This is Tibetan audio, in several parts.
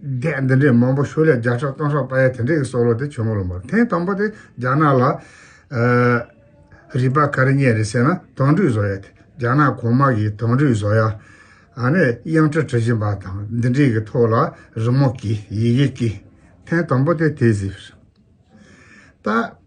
སྡེ་འདི་འདྲའི་མང་པོ་བཞུགས་ལས་བརྒྱ་ཕྲག་སྟོང་ཕྲག་པ་ཡ་དེ་འདྲས་ཀྱི་སྲོག་ལོ་དེ་བྱོན་མོ་ལོ་འབར་ཐེངས་དང་པོ་དེ་རྒྱ་ནག་ལ། རིག་པ་ག་རེ་རྙེད་རེད་ཟེར་ན་དོང་སྤྲུགས་བཟོ་ཡ་དེ་རྒྱ་ནག་གོང་མ་གིས་དོང་སྤྲུགས་བཟོ་ཡ། ཨ་ནས་དབྱངས་ཁྲི་བྲི་བཞིན་པ་དང་འདི་འདྲས་ཀྱི་ཐོག་ལ་རི་མོ་བགྱིས་ཡི་གེ་བགྱིས། ཐེངས་དང་པོ་དེ་དེ་ཟིག་རེད། ད།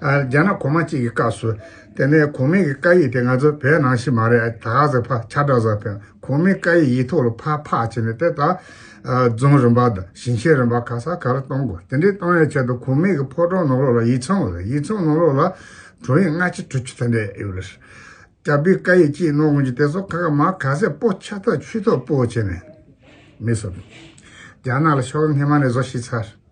རྒྱ་ནག་གོང་མ་གཅིག་གི་སྐབས་སུ། དེ་ནས་གོང་མའི་བཀའ་ཡིག་དེ་ང་ཚོ་བོད་ནང་བཞིན་མ་རེད་ད་ག་ཟེ་ཕ་ཆ་བྲག་ཟ་ཕེ་གོང་མའི་བཀའ་ཡིག་ཡིག་ཐོག་ལ་ཕ་ཕག་བྱེད་ནས་དེ་དག་རྫོང་རིམ་པ་དང་ཞིང་ཆེན་རིམ་པ་ག་ས་ག་རུ་གཏོང་དགོས་དེ་འདྲའི་གཏོང་བའི་ཆེད་དུ་གོང་མའི་ཕོ་བྲང་ནང་ལོགས་ལ་ཡིག་ཚང་ཡོད་ཡིག་ཚང་ནང་ལོགས་ལ་དྲུང་ཡིག་སྔ་ཕྱི་དྲུག་ཅུ་དེ་འདྲ་ཡོད་རེད། དྲ་འབུའི་བཀའ་ཡིག་གཅིག་ནོར་དགོན་གྱི་དེ་ཚོ་ཁ་ཁ་མ་ག་ཟེ་པོ་ཆ་ཐོག་ཆུ་ཐོག་པོ་བྱེད་ནས་མི་བསོད་རྒྱ་ནག་ལ་ཕྱོགས་ངྷི་མ་ནས་བཟོ་ཤི་ཚར།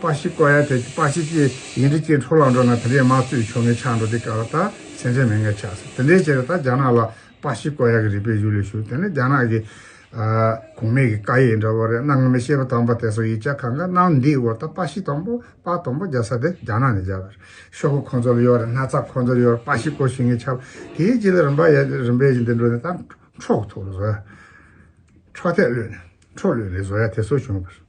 པ་ཞིག་བཀོད་ཡ་དེ་པ་ཞིག་གིས་ཡིན་དྲི་སྐྱིད་འཕྲོ་ལ་འགྲོ་ན་དེ་འདྲའི་དམག་ཚུད་ཆོ་ངེ་ཆགས་འགྲོ་དེ་ག་ལ་ད་ཚན་ཆ་མེད་ངེས་ཆགས་སོ་དེ་འདྲའི་ཕྱིར་ད་རྒྱ་ནག་ལ་པ་ཞིག་བཀོད་ཡ་གི་རིག་པའི་གཞུ་ལས་ཞུ་དེ་ནི་རྒྱ་ནག་གི་གོང་མས་གི་ཀ་ཡེ་འདྲ་བོ་རེད་གནའ་སྔ་མོའི་ཤེས་པ་དམ་པ་དེ་ཚོ་ཡིག་ཆ་གང་ག་གནང་འདིའི་འོག་ད་པ་ཞིག་དང་པོ་པ་དང་པོ་རྒྱ་ས་དེ་རྒྱ་ནག་ནས་རྒྱ་བར་ཤོག་གོ་ཁོང་ཚོ་ལ་ཡོད་རེད་སྣ་ཚགས་ཁོང་ཚོར་ཡོད་རེད་པ་ཞིག་བཀོད་ཞུ་ངེས་ཆགས་དེའི་རྗེས་ལ་རིམ་པ་ཡ་རིམ་པས་ཀྱི་འདི་འགྲོ་ནས་ད་འཕྲོག་ཐུག་རེད་བཟོ་ཡ་འཕྲོག་ཐད་བློས་ནས་འཕྲོག་བློས་རེད་བཟོ་ཡ་དེ་ཚོ་བྱུང་བར།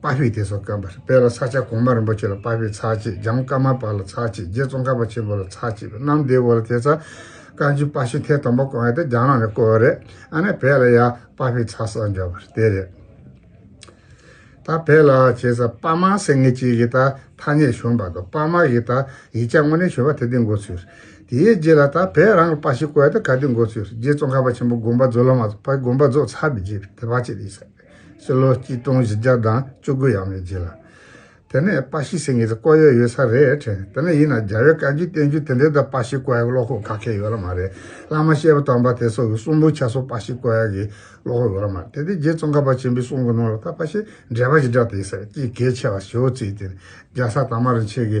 དཔའ་བོས་དེ་སོགས་བསྐོན་པར་སྤེལ་ལ་ས་སྐྱ་གོང་མ་རིན་པོ་ཆེ་ལ་དཔའ་བོས་ཚར་གཅིག་འཇམ་དཀར་མ་པ་ལ་ཚར་གཅིག་རྗེ་ཙོང་ཁ་པ་ཆེན་པོ་ལ་ཚར་གཅིག་པའི་གནམ་སྡེ་བོ་ལ་དེ་ཚར། བཀའ་འགྱུར་དཔའ་ཤོད་ཐེངས་དང་པོ་བསྐོན་ཡག་དེ་རྒྱ་ནག་ནས་བསྐོས་བ་རེད་ཨ་ནེ་བལ་ལ་ཡ་དཔའ་བོས་ཚར་གསར་འབྱོར་བ་རེད་དེ་རེད། ད་བལ་ལ་བྱས་ས་དཔའ་མ་སེང་ངེ་གཅིག་གིས་ད་ཐ་སྙད་ཞུ་འབའ་དོ་དཔའ་མ་གིས་ད་ཡིག་ཆ་དངོས་གནས་ཞུ་བ་དེ་དེ་འགོ་ཚུལ་རེད་དེའི་རྗེས་ལ་ད་བལ་རང་གི་དཔའ་ཞིག་བསྐོས་ཡག་དེ་ག་དེ་འགོ་ཚུལ་རེད་རྗེ་ཙོང་ཁ་པ་ཆེན་པོ་དགོན་པ་རྫོགས་ལ་མ་རྫོགས་དཔའི་དགོན་པ་རྫོགས་ཚར་བའི་རྗེས་དེ་བ་ཅི་རེད་ཟེར། ཕྱི་ལོ་གཅིག་སྟོང་བཞི་བརྒྱ་དང་བཅུ་དགུ་ཡར་མེ་བྱས་ལ། དེ་ནས་པཱ་ཤི་སེང་གེ་ཚོ་བསྐོ་ཡས་ཡོད་ས་རེད་དྲན། དེ་ནས་ཡིན་ན་རྒྱ་བོད་བཀའ་བརྒྱུད་བསྟན་བཅོས་དེ་འདྲའི་ད་པཱ་ཤི་བསྐོ་ཡས་ཀྱི་བློ་ཁོག་ཁ་ཁས་ཡོད་ལ་མ་རེད། བླ་མ་ཤེས་པ་དམ་པ་དེ་སོགས་ཀྱི་གསུང་འབུམ་ཆ་སོགས་པཱ་ཤི་བསྐོ་ཡས་ཀྱི་བློ་ཁོག་ཡོད་ལ་མ་རེད། དེ་དེ་རྗེ་ཙོང་ཁ་པ་ཆེན་པོའི་གསུང་གི་ནང་ལ་ད་པཱ་ཤི་འགྲེལ་པ་ཞེས་བསྒྲགས་དེ་ཟེར་གྱིས་གལ་ཆེ་བ་ཞེ་བོ་བརྩིས་ཏེ་རྒྱལ་ས་དར་མ་རིན་ཆེན་གྱི་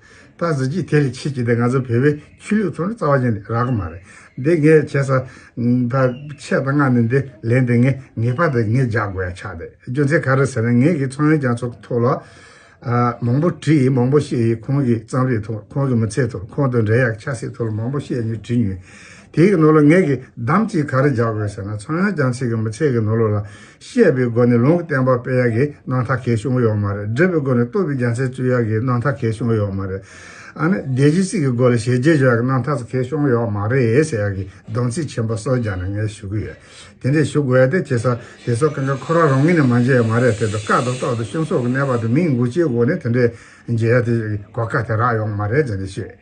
ད་གཟི་བརྗིད་དེ་ལས་ཆེ་གི་དེ་ང་ཚོ་བོད་པའི་ཆོས་ལུགས་ཚོ་ནི་རྩ་བ་ཅན་ལས་རག་གི་མ་རེད་འདི་ངས་བྱས་ས། ད་ཆད་ད་ང་ནི་འདི་ལས་འདི་ངས་ངེས་པ་དེ་ངས་རྒྱག་དགོས་ཡ་ཆགས་དེ་རྒྱུ་མཚན་ག་རེ་ཟེར་ན་ངེད་ཀྱི་ཚོང་ཡོན་རྒྱ་མཚོ་ཐུག་ལ། མང་པོ་བྲིས་ཡིན་མང་པོ་བཤད་ཡིན་ཁོང་གི་གཙང་རིས་ཐུག་ཁོང་གི་མི་ཚེ་ཐུག་ཁོང་དང་འབྲེལ་ཡག་ཆ་སྲིད་ཐུག་ལ་མང་པོ་བཤད་ཉོས་བྲིས་ཉོས། དེའི་ནོར་ལ་ངེད་ཀྱིས་བདམས་ཅིག་ག་རེ་རྒྱག་དགོས་ཟེར་ན་ཚོང་ཡོན་རྒྱ་མཚེ་གི་མི་ཚེ་གི་ནོར་ལུགས་ལ་བཤད་པའི་སྒོ་ནས་ལུང་བསྟན་པ་སྤེལ་ཡག་གི་གནང་ཐག་གས་བྱུང་ཡོག་མ་རེད་སྒྲུབ་པའི་སྒོ་ནས་བསྟོད་པའི་རྒྱ་མཚན་བཙུད་ཡག་གི་གནང་ཐག་གས་བྱུང་ཡོག་མ་རེད་ཨ་ནི་བདེ་སྐྱིད་སྲིད་གི་སྒོ་ལ་ཞལ་རྗེས་འཇོག་ཡག་གི་གནང་ཐག་གས་བྱུང་ཡོག་མ་རེད་ཟེར་ཡག་གི་སྡོམ་ཚིག་ཆེན་པོ་སོགས་རྒྱ་ནས་ངས་ཞུ་གི་ཡོད་དེ་འདྲས་ཞུ་དགོས་ཡག་དེ་བྱས་ས་དེ་ཚོ་གང་ག་ཁོ་རང་རང་ངོས་ནས་མ་མཇལ་ཡོག་མ་རེད་དེ་ཚོ་ཀ་ཏོ་ཏོག་ཏུ་ཤོང་སོགས་ཀི་གནས་པ་དེ་མིང་འགུག་བྱེད་སྒོ་ནས་དེ་འདྲས་མཇལ་ཡག་དེ་གོ་ཁ་དེ་རག་ཡོག་མ་རེད་ཟེར་ནས་བཤད།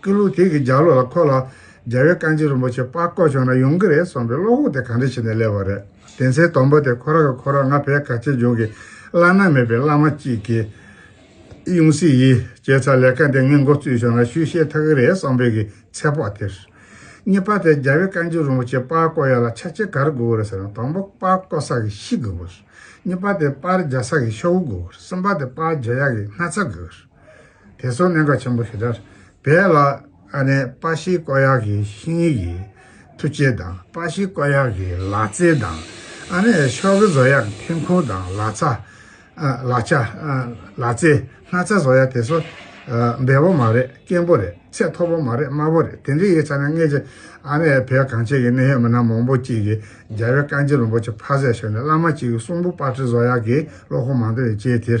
སྐུ་ལུས་ཐིག་གི་ལྗགས་ལོགས་ལ་འཁོར་ལ། རྒྱལ་བའི་བཀའ་མཆིད་རིན་པོ་ཆེ་དཔའ་བཀོད་བྱུང་ན་ཡོང་གི་རེད་གསུངས་པའི་བློ་ཁོག་དེ་གང་འདྲ་བྱས་ནས་སླེབས་པ་རེད། དེ་ཚེ་དོམ་པོ་དེ་ཁོ་རང་གི་ཁོ་རང་ང་ཕའི་ག་ཆེ་ལྗོངས་ཀྱི་བླ་ན་མེད་པའི་བླ་མ་གཅིག་གིས། ཡུང་སི་ཡིས་སྐྱེས་ཚར་ལས་ཀ་འདི་ངས་མགོ་བཙུད་བྱུང་ན་ཤུལ་བཤད་ཐག་གི་རེད་བསམ་པོད་ཀྱི་ཚེ་དཔོག་དེར། གཉིས་པ་དེ་རྒྱལ་བའི་བཀའ་མཆིད་རིན་པོ་ཆེ་དཔའ་བཀོད་ཡག་ལ་ཆ་ཆེ་ག་རེ་དགོས་གི་རེད་ཟེར་ན་དང་པོ་དཔའ་བཀོད་ས་གི་ཤི་དགོས་གི་རེད། གཉིས་པ་དེ་དཔར་རྒྱག་ས་གི་ཤོག་བུ་དགོས་གི་རེད་གསུམ་པ་དེ་དཔར་རྒྱག་ཡག་གི་སྣ་ཚ་དགོས་གི་རེད། དེ་སོགས་གནད་འགག་ཆེན་པོ་དེ་དག་རྦད་ལ་ཨ་ནེ་པ་ཤིའི་བཀའ་ཡག་གི་ཤིང་ཡིག་གི་ཐུ་ཆེ་དང་པ་ཤིའི་བཀའ་ཡག་གི་ལག་རྩལ་དང་ཨ་ནེ་ཤོག་གི་བཟོ་ཡག་ཐེམ་ཁུང་དང་ལག་ཆ། ལག་ཆ། ལག་རྩལ་སྣ་ཚ་བཟོ་ཡག་དེ་སོགས་འབེལ་པོ་མ་རེད་སྐྱེན་པོ་རེད་ཚད་མཐོ་པོ་མ་རེད་དམའ་བོ་རེད་དེ་འདྲ་ཡིག་ཚང་ནས་སྔས་ཀྱི་ཨ་ནེ་བོད་གངས་ཅན་གྱི་གནས་ཡོད་མི་སྣ་མང་པོ་གཅིག་གིས་རྒྱལ་བའི་བཀའ་འགྱེད་རིན་པོ་ཆེ་ཕ་ཟས་ཤོར་ནས་བླ་མ་གཅིག་གི་གསུང་པོ་པ་ཁྲི་བཟོ་ཡག་གི་བློ་ཁོག་མང་དུ་ཡོད་ཅེས་དེར་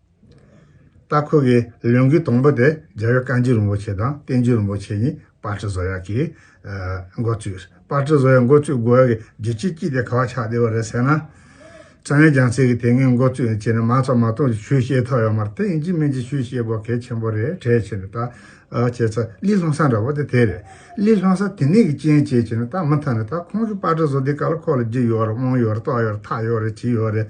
སྟག་ཁོལ་གྱི་ལུང་གི་དང་པོ་དེ་རྒྱལ་བའི་བཀའ་འགྱུར་རིན་པོ་ཆེ་དང་བསྟན་འགྱུར་རིན་པོ་ཆེ་གཉིས་སྤར་ཁྲི་བཟོ་ཡག་གིས་འགོ་བཙུགས། སྤར་ཁྲི་བཟོ་ཡག་འགོ་བཙུགས་དགོས་ཡག་གི་རྒྱུ་ཅི་སྐྱིད་དེ་ག་བ་ཆགས་བསྡད་པ་རེད་ཟེར་ན། ས་གནས་རྒྱང་ཚིག་གིས་དེ་སྔའི་འགོ་བཙུགས་ནས་བྱས་ནས་མང་ཚོགས་མང་སྟོང་གིས་ཆོས་ཤེས་ཐོག་ཡོད་མ་རེད་དེ་ཨིན་ཇི་མན་ཇི་ཆོས་ཤེས་དགོས་གལ་ཆེན་པོ་རེད་གྲས་བྱས་ནས་ད་བྱས་ཚ་ལི་ལྷོང་ས་འདྲ་བོ་དེ་དེ་རེད་ལི་ལྷོང་ས་དེ་ནས་གི་ཅན་བྱས་བྱས་ནས་ད་མི་མཐའ་ནས་ད་ཁོང་གིས་སྤར་ཁྲི་བཟོ་དེ་ག་ལ་ཁོག་ལ་རྒྱུ་ཡོད་རེད་དབང་ཡོད་རེད་ཏོག་ཡོད་རེད་ཐག་ཡོད་རེད་ཇི་ཡོད་རེད།